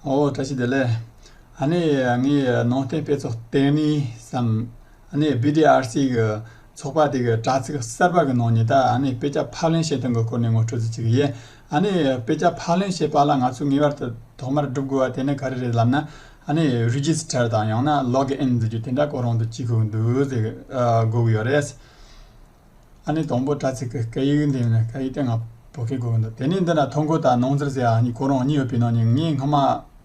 ཨོ་བཀྲ་ཤིས་བདེ་ལེགས། ཨ་ནེ་ངའི་ནང་བསྟན་དཔེ་ཚོགས་བསྟན་གནས་སམ། ཨ་ནེ BDRC གི་ཚོགས་པ་དེ་གི་དྲ་ཚིགས་གསར་པ་གི་ནང་ཉི་ད་ཨ་ནེ་དཔེ་ཆ་ཕབ་ལེན་བྱེད་སྟངས་གི་སྐོར་ནས་ངོ་སྤྲོད་རྩིས་ཚིག་ཡེ། ཨ་ནེ་དཔེ་ཆ་ཕབ་ལེན་བྱེད་པ་ལ་ང་ཚོས་ངེས་པར་དུ་ཐོག་མར་སྒྲུབ་དགོས་པ་དེ་ནི་ག་རེ་རེད་ལབ་ན། ཨ་ནེ Register དང་ཡང་ན Log In ཟེར་རྒྱུ་དེ་འདྲ་སྐོར་རང་དུ་ཅི་གུག་འདུག་ཟེར་གི་གུག་ཡོད་རེད། ཨ་ནི་དང་པོ་དྲ་ཚིགས་ཀྱི་སྐད་ཡིག་འདི་ནི་སྐད་ཡིག་སྟེ་ང་བོ་སྐད་གོ་དོ། དེ་ནས་འདི་ན་ཐོ་འགོད་དང་ནོངས་འཚེར་ཟེར་ཡ་གཉིས་གོ་རང་གཉིས་ཡོད་པའི་ནང་ནས་ངས་སྔ་མ་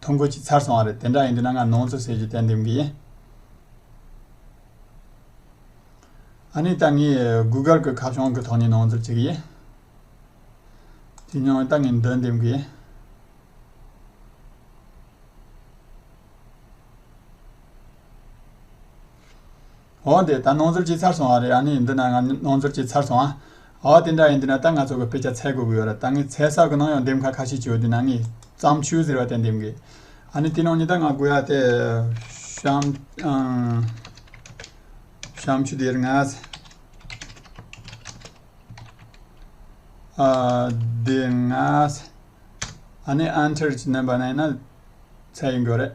ཐོ་འགོད་ཅིག་ཚར་སོང་བ་རེད་དེ་འདྲ་ཡིན་དུས་ན་ང་ནོངས་འཚོ་ཟེར་རྒྱུ་དེ་འདེམས་གི་ཡིན། ཨ་ནི་ད་ངས Google གྱི་ཁ་བྱང་གི་ཐོག་ནས་ནོངས་འཚོར་བྱེད་ཀྱི་ཡིན། དེ་ནས་ད་ངས་འདི་འདེམས་གི་ཡིན། འོ་འདི་ད་ནོར་འཛོལ་གྱིས་ཚར་སོང་བ་རེད་ཨ་ནི་འདི་ན་ང་ནོར་འཛོལ་གྱིས་ཚར་སོང་ཨ། འོ་དེ་འདྲ་ཡིན་དུས་ན་ད་ང་ཚོ་གི་དཔེ་ཆ་ཚད་དགོས་ཀྱི་ཡོད་ར་ད་ངས་ཚད་གསར་གི་ནང་ཡང་འདེམས་ཁ་ཁ་ཤས་བྱོས་དུས་ན་ངས་བརྩམས་ཆོས་ཟེར་བ་དེ་འདེམས་དགོས་ཨ་ནི་དེ་ནང་ཉི་ད་ང་དགོས་ཡ་དེ། བཤམས། བཤམས་ཆུ་དེར་ངས། དེ་ངས། ཨ་ནི་ཨན་ཐེར་གྱི་རྣམ་པ་ན་ཡིན་ན་ཚད་ཡིན་དགོས་རེད།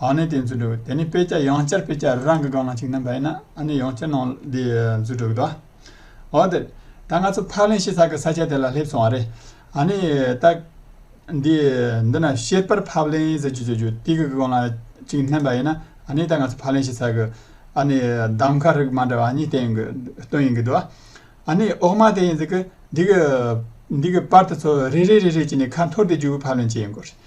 ཨ་ནི་དེ་འཛུལ་འགྲོ་གི་དེ་ནི་དཔེ་ཆ་ཡང་བསྐྱར་དཔེ་ཆ་རེ་རང་གི་སྒང་ན་བྱུགས་ན་འབའ་ཡིན་ན་ཨ་ནི་ཡང་བསྐྱར་ནང་འདི་འཛུལ་འགྲོ་གི་འདུག་ཨོ་དེ་ད་ང་ཚོ་ཕག་ལེན་ཤེས་ཚར་གི་ས་ཆ་དེ་ལ་སླེབས་སོང་བ་རེད། ཨ་ནི་ད། འདི་འདི་ན་ཤེས་པར་ཕབ་ལེན་ཟེར་གྱི་བྱུགས་བྱུགས་ཏི་གི་སྒང་ལ་ཅིག་བསྣན་པ་ཡིན་ན་ཨ་ནི་ད་ང་ཚོ་ཕག་ལེན་ཤེས་ཚར་གི་ཨ་ནི་འདམ་ཁ་རིགས་མ་འདྲ་བ་གཉིས་སྟེང་གི་སྟོན་ཡིན་གི་འདུག་ཨ་ནི་ཨོག་མ་དེ་ཡིན་ཟེར་གི་འདི་གི་འདི་གི་པར་དེ་ཚོ་རེ་རེ་རེ་རེ་བྱས་ནས་ཁ་འཐོར་ཏེ་བྱུགས་ཕབ་ལེན་བྱེད་ཡོང་གི་རེད།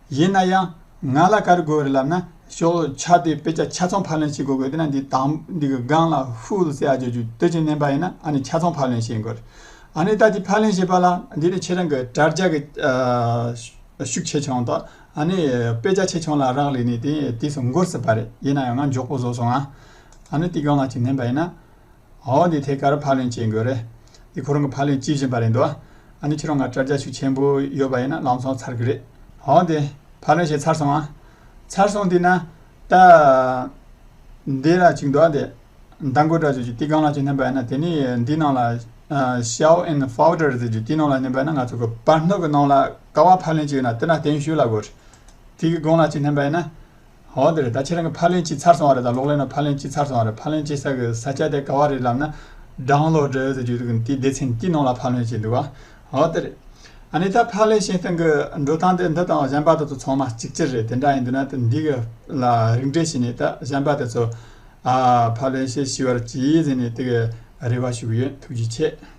ཡིན་ན་ཡང་ང་ལ་ཀར་དགོས་རེད་ལབ་ན་ཤོག་ཆ་དེ་དཔེ་ཆ་ཆ་ཚང་ཕར་ལེན་བྱེད་དགོས་གོ་དེ་ན་འདི་དང་འདི་གི་སྒང་ལ་ཧྥུའུ་ལ་སེ་ཨ་བརྗོད་རྒྱུ་དེ་ཅི་མནན་པ་ཡིན་ན་ཨ་ནི་ཆ་ཚང་ཕར་ལེན་བྱེད་དགོས་རེད་ཨ་ནི་ད་དེ་ཕར་ལེན་བྱེད་པ་ལ་འདི་ནི་ཁྱེད་རང་གི་དྲྭ་རྒྱ་གི་ཤུགས་ཆེ་ཆུང་དང་ཨ་ནི་དཔེ་ཆ་ཆེ་ཆུང་ལ་རག་ལས་ནས་དེ་དུས་སུ་འགོར་སྲིད་པ་རེད་ཡིན་ན་ཡང་ང་མགྱོགས་པོ་བཟོ་སོང་ཨ་ནི་དེ་སྒང་ལ་ཅི་མནན་པ་ཡིན་ན། ཨོ་འདི་ཐད་ཀར་ཕག་ལེན་བྱེད་དགོས་རེད། འདི་ཁོ་རང་གི་ཕག་ལེན་བྱེད་བཞིན་པ་རེད་འདུག་ཨ། ཨ་ནི་ཁྱེད་རང་ང་དྲ་རྒྱ་ཤུགས་ཆེན་པོ་ཡོད་པ་ཡིན་ན་ལམ་སོང་ཚར་གི་རེད། ཨོ་འདི་ཕག་ལེན་བྱེད་ཚར་སོང་ཨ། ཚར་སོང་འདི་ན་ད། འདི་ལ་ཅིག་འདུག་ཨ་འདི། མདང་དགོད་དྲ་ཇུས་ཀྱི་ཏི་གང་ལགས་ཀྱིས་བསྣན་པ་ཡིན་ན་དེ་ནི་འདི་ནང་ལ། Xiao and Fouder ཟེར་གྱི་ཏི་ནང་ལ་བསྣན་པ་ཡིན་ན་ང་ཚོ་གི་བར་སྣོད་ཀྱི་ནང་ལ་ཀ་བ་ཕག་ལེན་བྱེད་ཡོད་ན་དེ་ན་གདན་ཞུས་ལ་དགོས། ཏི་གི་གང་ལགས་ཀྱིས་བསྣན་པ་ཡིན་ན། འོ་དེ་རེད་ད་ཁྱེད་རང་གི་ཕ་ལན་གཅིག་ཚར་སོང་བ་རེད་དང་ལོག་ལན་ན་ཕ་ལན་གཅིག་ཚར་སོང་བ་རེད་ཕ་ལན་གཅིག་ཚར་གི་ས་སྐྱ་དེ་ག་བ་རེད་ལབ་ན་སྦྲང་ལོག་འདྲ་ཡོད་ཟེར་རྒྱུ་འདུག་དེའི་སྡེ་ཚན་གྱི་ནང་ལ་ཕ་ལན་བྱེད་འདུག་བ་འོ་དེ་རེད། ཨ་ནི་ད་ཕ་ལན་བྱེད་སྟངས་གི་འགྲོ་སྟངས་དེ་འདི་དང་གཞན་པ་དེ་ཚོ་ཚང་མ་གཅིག་གྱུར་རེད་དེ་འདྲ་ཡིན་དུས་ན་དེ་འདི་གི་ལ་རིགས་འགྲེ་བྱས་ནས་ད་གཞན་པ་དེ་ཚོ་ཕ་ལན་བྱེད་ཤི་བར་གྱིས་ཟེར་ནས་དེ་གི་རེ་བ་ཞུ་གི་ཡོད་ཐུགས་རྗེ་ཆེ།